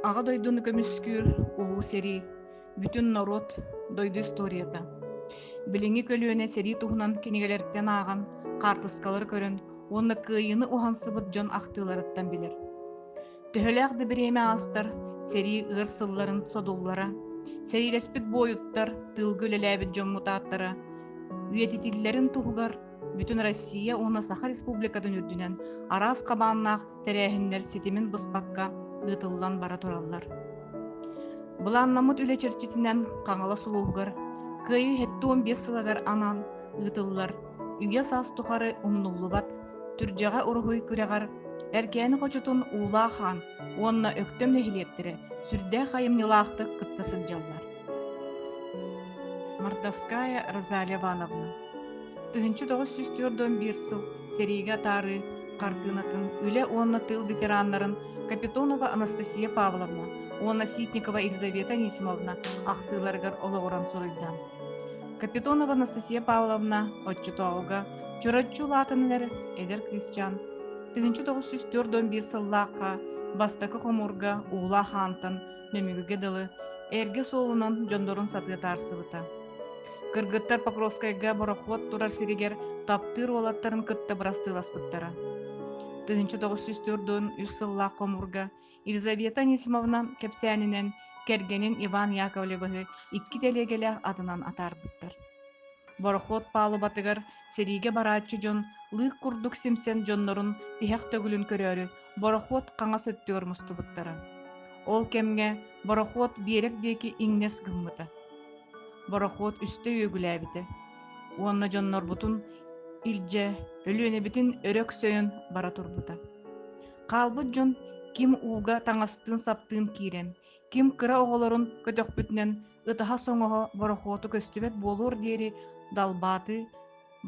Аҕа дойдуну көмүскүүр Улуу сэрии бүтүн норуот дойду историята. Билиҥҥи көлүөнэ сэрии туһунан кинигэлэриттэн ааҕан, хаартыскалары көрөн уонна кыайыыны уһансыбыт дьон ахтыыларыттан билэр. Төһөлөөх да бириэмэ аастар, сэрии ыар сылларын содуллара, сэриилэспит буойуттар, тыылга үлэлээбит дьоммут ааттара үйэтитиллэрин туһугар Бүтүн Россия уонна Саха Республикатын үрдүнэн араас хабааннаах тэрээһиннэр ситимин быспакка ыытыллан бара тураллар. Былааннаммыт үлэ чэрчитинэн Хаҥалас улууһугар Кыайыы 75 сылагар анаан ыытыллар үйэ-саас тухары умнуллубат түрдьэҕэ уруһуй күрэҕэр Эркээни хочутун Уулаах хаан уонна Өктөм нэһилиэктэрэ сүрдээх айымньылаахтык кытта сылдьаллар. Мартовская Розалия Ивановна Тыһыынча тоҕус сүүс түөрт уон биир сыл сэриигэ атаарыы хартыынатын үлэ уонна тыыл ветераннарын Капитонова Анастасия Павловна уонна Ситникова Елизавета Анисимовна ахтыыларыгар олоҕуран суруйда. Капитонова Анастасия Павловна оччотооҕуга чороччу улаатан эрэр эдэр кыысчаан тыһыынча тоҕус сүүс түөрт уон биир сыллаахха бастакы хомуурга уулаах аантан Нөмүгүгэ дылы, эргэ суолунан дьондорун сатыы таарсыбыта. Кыргыттар Покровскайга борохуот турар сиригэр таптыыр уолаттарын кытта бырастыыласпыттара. 1904-1 сыллаах хомуурга Елизавета Анисимовна кэпсээнинэн кэргэнин Иван Яковлевиһы икки тэлиэгэлээх атынан атаарбыттар. Борохуот палубатыгар Сэриигэ барааччы дьон лыык курдук симсэн дьоннорун тиһэх төгүлүн көрөөрү борохуот хаҥас өттүгэр мустубуттара. Ол кэмҥэ борохуот биэрэк диэки иҥнэс гыммыта. Борохуот үстэ үөгүлээбитэ уонна дьоннорбутун илдьэ Өлүөнэбитин өрө өксөйөн бара турбута. Хаалбыт дьон ким ууга таҥастыын-саптыын киирэн, ким кыра оҕолорун көтөхпүтүнэн ытаһа-соҥоһо борохуоту көстүбэт буолуор диэри далбааты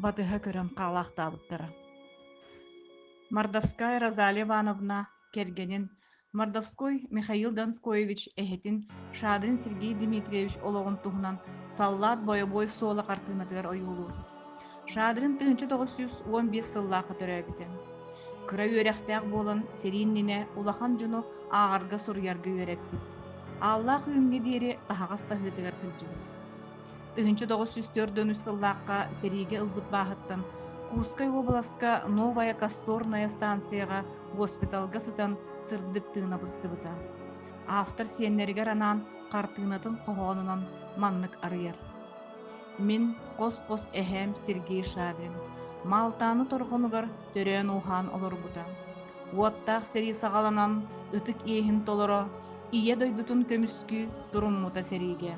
батыһа көрөн хаалаахтаабыттара. Мордовская Розалия Ивановна кэргэнин, мордовской Михаил Донскоевич эһэтин Шадрин Сергей Дмитриевич олоҕун туһунан саллаат бойобуой суола хартыынатыгар ойуулуур. Шадрин тыһыынча тоҕус сүүс уон биир сыллаахха төрөөбүтэ. Кыра үөрэхтээх буолан, сэрии иннинэ улахан дьону ааҕарга, суруйарга үөрэппит. Ааллаах Үүҥҥэ диэри таһаҕас таһыытыгар сылдьыбыт. Тыһыынча тоҕус сүүс төрт дьон үс сыллаахха сэриигэ ылбыт бааһыттан Курскай уобаласка Новая Касторная станцияҕа госпиталга сытан сырдык тыына быстыбыта. Автор сиэннэригэр анаан хартыынатын хоһоонунан маннык арыйар Мин хос-хос эһээм Сергей Шадрин Маалтааны торҕонугар төрөөн-ууһаан олорбута. Уоттаах сэрии саҕаланан ытык иэһин толоро, Ийэ дойдутун көмүскүү туруммута сэриигэ.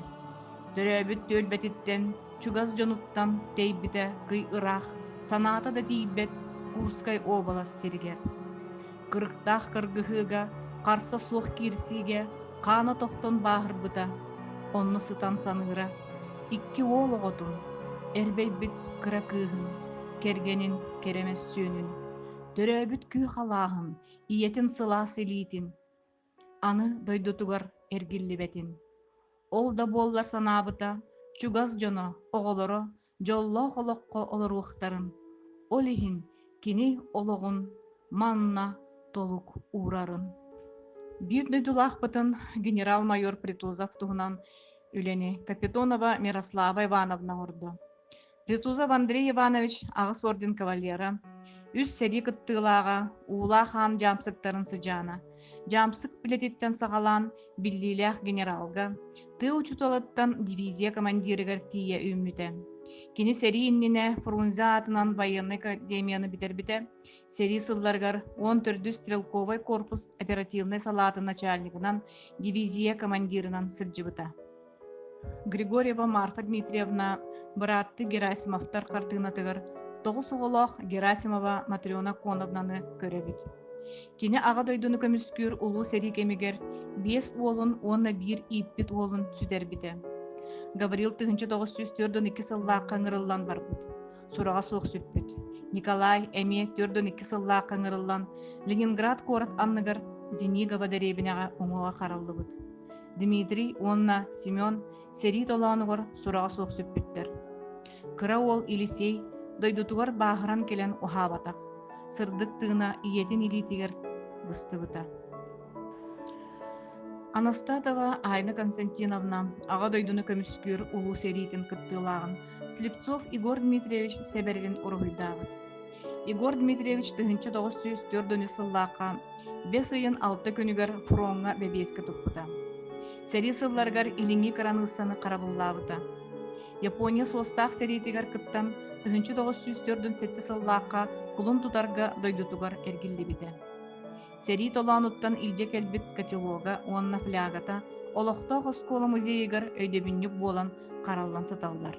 Төрөөбүт түөлбэтиттэн, чугас дьонуттан тэйбитэ кый ыраах, санаата да тиийбэт Курскай уобалас сиригэр. кырыктаах кыргыһыыга, харса суох киирсиигэ хаана тохтон бааһырбыта, онно сытан саныыра, икки уол оҕотун, эрбэйбит кыра кыыһын, кэргэнин кэрэ мөссүөнүн, төрөөбүт күүх алааһын, ийэтин сылаас илиитин, аны дойдутугар эргиллибэтин. Ол да буоллар санаабыта чугас дьоно, оҕолоро дьоллоох олоххо олоруохтарын, ол иһин кини олоҕун манна толук уурарын. Биир дойдулаахпытын генерал-майор Притузов туһунан үлэни Капитонова Мирослава Ивановна оҥордо. Ретузов Андрей Иванович аҕыс орден кавалера, үс сэрии кыттыылааҕа, уулаах аан дьаамсыктарын сыдьаана, дьаамсык билетиттэн саҕалаан биллиилээх генералга, тыа учууталыттан дивизия командирыгар тиийэ үүммүтэ. Кини сэрии иннинэ Фрунзе аатынан военнай академияны бүтэрбитэ, сэрии сылларыгар 14 стрелковай корпус оперативнай салаатын начальнигынан, дивизия командирынан сылдьыбыта. Григорьева Марта Дмитриевна бырааттыы Герасимовтар хартыынатыгар тоҕус оҕолоох Герасимова Матрена Коновнаны көрөбүт. Кини Аҕа дойдуну көмүскүүр улуу сэрии кэмигэр биэс уолун уонна биир ииппит уолун сүтэрбитэ. Гаврил тыһыынча тоҕус сүүс төрт уон икки сыллаахха ыҥырыллан барбыт. сураҕа суох сүппүт. Николай эмиэ төрт уон икки сыллаахха ыҥырыллан Ленинград куорат анныгар Зенигова дэриэбинэҕэ уҥуоҕа хараллыбыт. Дмитрий уонна Семен сэрии толоонугар сураҕа суох сүппүттэр. Кыра уол Елисей дойдутугар бааһыран кэлэн уһаабатах. Сырдык тыына ийэтин илиитигэр быстыбыта. Анастасова Айна Константиновна аҕа дойдуну көмүскүүр улуу сэриитин кыттыылааҕын Слепцов Егор Дмитриевич Сэбэргин уруһуйдаабыт. Егор Дмитриевич тыһыынча тоҕус сүүс төрт дөнү сыллаахха бэс ыйын алта күнүгэр фроҥҥа бэбиэскэ туппута. Сэрии сылларыгар илиҥҥи кыраныыссаны харабыллаабыта. Япония суостаах сэриитигэр кыттан тыһыынча тоҕус сүүс төрт сэтте сыллаахха кулун тутарга дойдутугар эргиллибитэ. Сэрии толоонуттан илдьэ кэлбит котелога уонна флягата олохтоох оскуола музейыгар өйдөбүнньүк буолан хараллан сыталлар.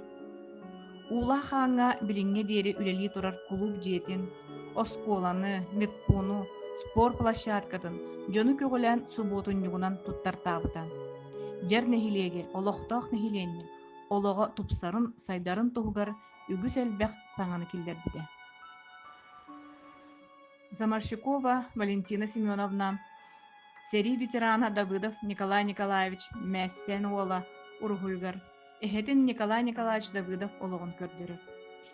Уулаах ааҥҥа билиҥҥэ диэри үлэлии турар кулууп дьиэтин, оскуоланы, медпуну, спорт площадкатын дьону көҕүлээн субуотунньугунан туттартаабыта. Дьэр нэһилиэги, олохтоох нэһилиэнньэ олоҕо тупсарын, сайдарын туһугар үгүс элбэх саҥаны киллэрбитэ. Заморщикова Валентина Семеновна, сэрии ветерана Давыдов Николай Николаевич Мээссээн уола уруһуйугар эһэтин Николай Николаевич Давыдов олоҕун көрдөрөр.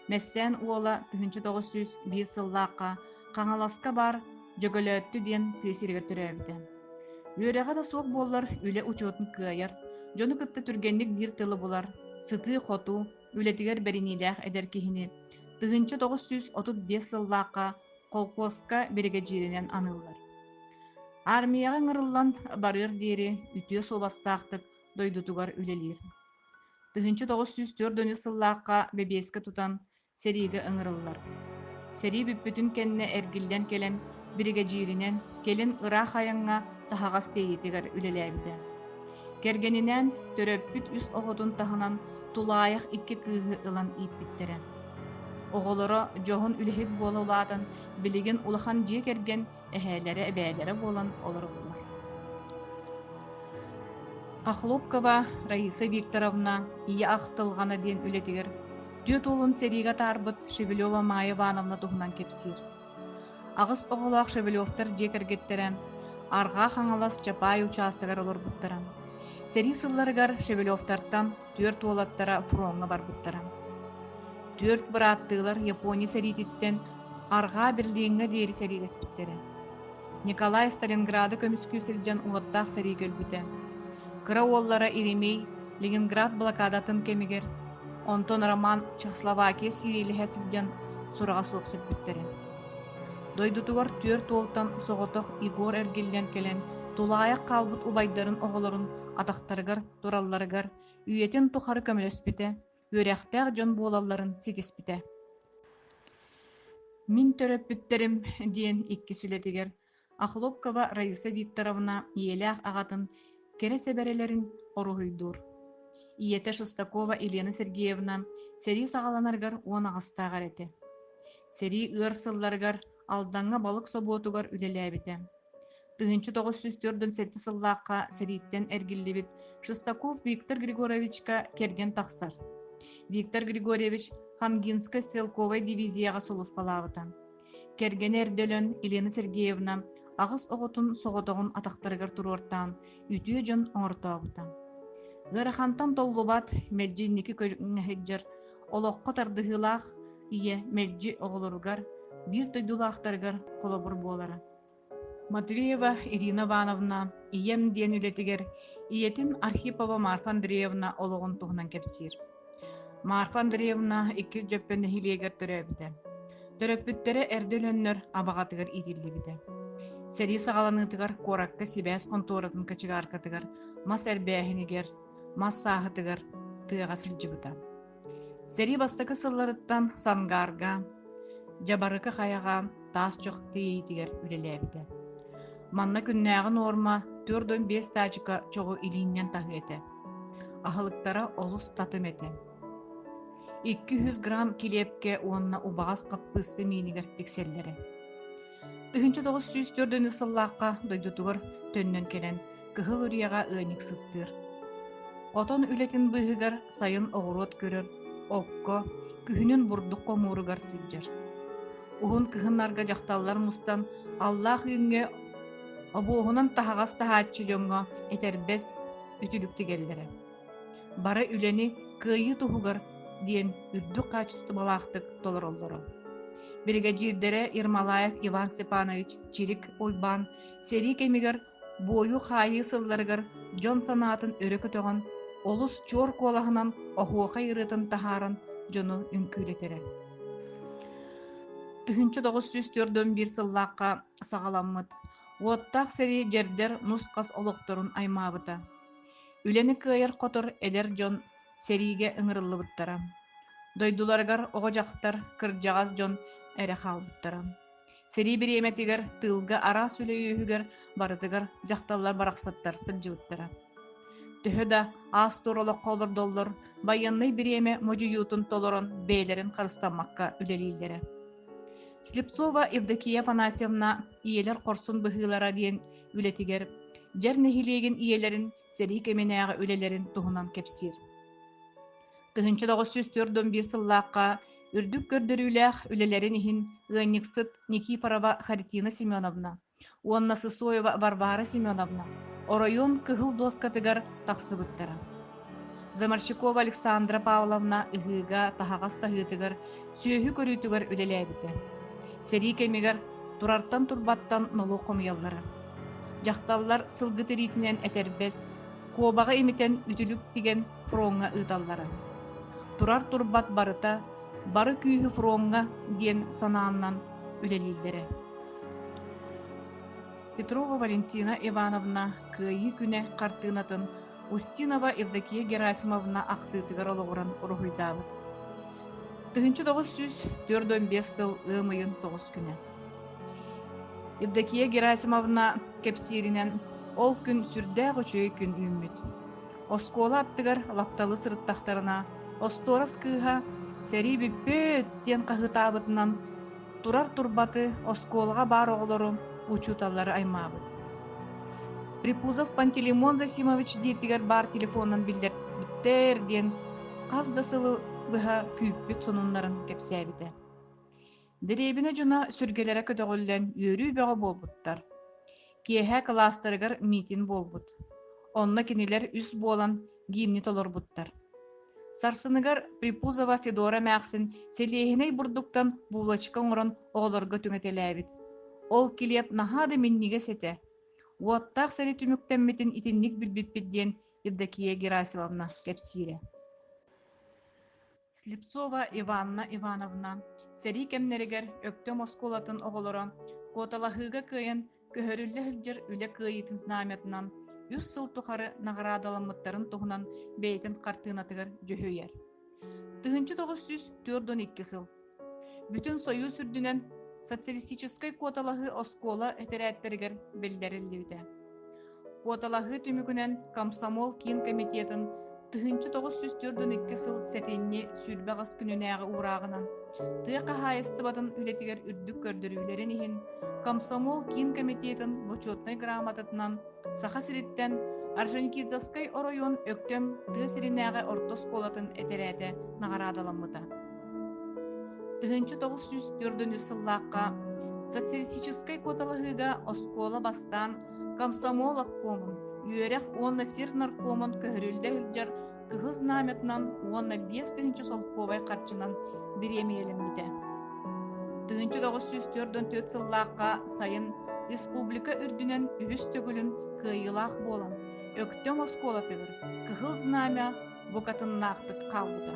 Мэстээн уола 1900 сыллаахха Хаҥаласка баар Дьөголөөттү диэн тыа сиригэр төрөөбүтэ. Үөрэҕэ да суох буоллар үлэ учуотун кыайар, дьону кытта түргэнник биир тылы булар, сытыы-хотуу, үлэтигэр бэриниилээх эдэр киһини тыһыынча тоҕус сүүс отут биэс сыллаахха холкуоска биригэдьииринэн аныыллар. Армияҕа ыҥырыллан барыар диэри үтүө суобастаахтык дойдутугар үлэлиир. Тыһыынча тоҕус сүүс төрт дөнү сыллаахха бэбиэскэ тутан сэриигэ ыҥырыллар. Сэрии бүппүтүн кэннэ эргиллэн кэлэн биригэдьииринэн кэлин ыраах айаҥҥа таһаҕас тиэйиитигэр үлэлээбитэ. Кэргэнинээн төрөппүт үс оҕотун таһынан тулаайах икки кыыһы ылан ииппиттэрэ. Оҕолоро дьоһун үлэһит буола улаатан, билигин улахан дьиэ кэргэн эһээлэрэ эбээлэрэ буолан олороллор. Охлопкова Раиса Викторовна Ийэ ахтылҕана диэн үлэтигэр түөрт уолун сэриигэ атаарбыт Шевелева Майя Ивановна туһунан кэпсиир. Аҕыс оҕолоох Шевелевтар дьиэ кэргэттэрэ Арҕаа Хаҥалас Чапаай учаастагар олорбуттара. Сэрии сылларыгар Шевелевтартан түөрт уолаттара фроҥҥа барбыттара. Түөрт бырааттыылар Япония сэриититтэн Арҕаа Берлиҥҥэ диэри сэриилэспиттэрэ. Николай Сталинграды көмүскүү сылдьан уоттаах сэрии көрбүтэ. Кыра уоллара Иеремей Ленинград блокадатын кэмигэр, онтон Роман Чехословакия сириэлиһэ сылдьан сураҕа суох сөрбүттэрэ. Дойдутугар түөрт уолтан соҕотох Егор эргиллэн кэлэн тулаайах хаалбыт убайдарын оҕолорун атахтарыгар туралларыгар үйэтин тухары көмөлөспүтэ, үөрэхтээх дьон буолалларын ситиспитэ. Мин төрөппүттэрим диэн иккис үлэтигэр Охлопкова Раиса Викторовна ийэлээх аҕатын кэрэ сэбэрэлэрин оруһуйдуур. Ийэтэ Шестакова Елена Сергеевна сэрии саҕаланаргар уон аҕастаах этэ. Сэрии ыар сылларыгар Алдаҥҥа балык собуотугар үлэлээбитэ. Тыһыынча тоҕус сүүс төрдүн сэттэ сыллаахха сэрииттэн эргиллибит Шестаков Виктор Григорьевичка кэргэн тахсар. Виктор Григорьевич Хангинскай стрелковай дивизияҕа сулуспалаабыта. Кэргэнэ эрдэ өлөн Елена Сергеевна аҕыс оҕотун соҕотоҕун атахтарыгар туруортаан үтүө дьон оҥортообута. Ыарахантан толлубат, мэлдьи инники көрүҥҥэ сылдьар олоххо тардыһыылаах ийэ мэлдьи оҕолоругар биир дойдулаахтарыгар холобур буолара. Матвеева Ирина Ивановна ийэм диэн үлэтигэр ийэтин Архипова Марфа Андреевна олоҕун туһунан кэпсиир. Марфа Андреевна иккис Дьөппөн нэһилиэгэр төрөөбүтэ. Төрөппүттэрэ эрдэ өлөннөр абаҕатыгар иитиллибитэ. Сэрии саҕаланыытыгар куоракка сибээс хонтуоратын кочегаркатыгар мас эрбээһинигэр мас сааһытыгар тыаҕа сылдьыбыта. Сэрии бастакы сылларыттан Сангаарга, Дьабарыкы хайаҕа таас чох тиэйиитигэр үлэлээбитэ. Манна күннээҕи нуорма төрт уон биэс таачыка чоҕу илииннэн таһыы этэ. Аһылыктара олус татым этэ. Икки үһүс грамм килиэпкэ уонна убаҕас хаппыысса миинигэр тиксэллэрэ. Тыһыынча тоҕус сүүс төрдөнүс сыллаахха дойдутугар төннөн кэлэн Кыһыл Үрүйэҕэ ыанньык сыттыыр. Хотон үлэтин быыһыгар сайын оҕуруот көрөр, окко, күһүнүн бурдук хомууругар сылдьар. Уһун кыһыннарга дьахталлар мустан аллаах үүҥҥэ обуоһунан таһаҕас таһааччы дьоҥҥо этэрбэс, үтүлүк тигэллэрэ. бара үлэни кыайыы туһугар диэн үрдүк хаачыстыбалаахтык толороллоро. Биригэдьиирдэрэ Ермолаев Иван Степанович Чирик Уйбаан сэрии кэмигэр буойу-хаайыы сылларыгар дьон санаатын өрө көтөҕөн, олус чуор куолаһынан оһуохай ырыатын таһааран дьону үҥкүүлэтэрэ. Үһүнчү 904 сыллаахха саҕаламмыт уоттаах сэрии дьэрдэр нус-хас олохторун аймаабыта. Үлэни кыайар-хотор эдэр дьон сэриигэ ыҥырыллыбыттара. Дойдуларыгар оҕо-дьахтар, кырдьаҕас дьон эрэ хаалбыттара. Сэрии бириэмэтигэр тыылга араас үлэ үөһүгэр барытыгар дьахталлар барахсаттар сылдьыбыттара. Төһө да аас-туор олоххо олордоллор, байыаннай бириэмэ модьуйуутун толорон бэйэлэрин харыстаммакка үлэлииллэрэ. Слепцова Евдокия Афанасьевна «Ийэлэр хорсун быһыылара» диэн үлэтигэр дьэр нэһилиэгин ийэлэрин сэрии кэминээҕи үлэлэрин туһунан кэпсиир. Тыһынча тоғыз жүз төрт он биир сыллаахха үрдүк көрдөрүүлээх үлэлэрин иһин ыанньыксыт Никифорова Харитина Семеновна уонна Сысоева Варвара Семеновна оройуон кыһыл дуоскатыгар тахсыбыттара. Заморщикова Александра Павловна ыһыыга таһаҕас таһыытыгар, сүөһү көрүүтүгэр үлэлээбитэ. Сэрии кэмигэр турартан-турбаттан нолуок хомуйаллара. Дьахталлар сылгы тириитинэн этэрбэс, куобаҕы имитэн үтүлүк тигэн фроҥҥа ыыталлара. Турар-турбат барыта бары күүһү фроҥҥа диэн санааннан үлэлииллэрэ. Петрова Валентина Ивановна Кыайыы күнэ хартыынатын Устинова Евдокия Герасимовна ахтыытыгар олоҕуран уруһуйдаабыт. Тыһыынча тоҕус сүүс төрт уон биэс сыл ыам ыйын тоҕус күнэ. Евдокия Герасимовна кэпсииринэн, ол күн сүрдээх үчүгэй күн үүммүт. Оскуола аттыгар лапталы сырыттахтарына, остуорас кыыһа «Сэрии бүппүт!» диэн хаһыытаабытынан Турар турбаты оскуолаҕа баар оҕолорум, учууталлары аймаабыт. Припузов Пантелеймон Зосимович диэтигэр баар телефонунан биллэрбиттэр диэн хас да сылы быһа күүппүт сонуннарын кэпсээбитэ. Дэриэбинэ дьоно сүргэлэрэ көтөҕүллэн үөрүү бөҕө буолбуттар. Киэһэ кылаастарыгар миитин буолбут. Онно кинилэр үс буолан гимни толорбуттар. Сарсыныгар Припузова Федора эмээхсин сэлиэһинэй бурдуктан булочка оҥорон оҕолорго түҥэтэлээбит. Ол килиэп наһаа да минньигэс этэ. Уоттаах сэри түмүктэммитин итинник билбиппит диэн Евдокия Герасимовна кэпсиирэ. Слепцова Иванна Ивановна сэрии кэмнэригэр Өктөм оскуолатын оҕолоро куоталаһыыга кыайан көһөрүллэ сылдьар үлэ кыайыытын знамятынан үс сыл тухары наҕараадаламмыттарын туһунан бэйэтин хартыынатыгар дьүһүйэр. Тыһыынча тоҕус сүүс төрт он икки сыл. Бүтүн Союз үрдүнэн социалистическай куоталаһыы оскуола этэрээттэригэр биллэриллибитэ. Куоталаһыы түмүгүнэн комсомол киин комитетын тыһыынча тоҕус сүүс төрдун икки сыл сэтинньи сүүрбэ ас күнүнээҕи уурааҕынан тыа хаһаайыстыбатын үлэтигэр үрдүк көрдөрүүлэрин иһин комсомол киин комитетын бочуотунай грамотатынан Саха сириттэн Орджоникидзевскай оройуон Өктөм тыа сиринээҕи орто оскуолатын этэрээтэ наҕараадаламмыта. Тыһыынча тоҕус сүүс төрдүнчү сыллаахха социалистическай куоталаһыыга оскуола бастаан комсомол обкомун, үөрэх уонна сир наркомун көһөрүллэ сылдьар Кыһыл Знамятынан уонна биэс тыһыынча солкуобай харчынан бириэмийэлэммитэ. Тыһыынча тоҕус сүүс төрдөн төрт сыллаахха сайын республика үрдүнэн үһүс төгүлүн кыайыылаах буолан, Өктөм оскуолатыгар Кыһыл Знамя букатыннаахтык хаалбыта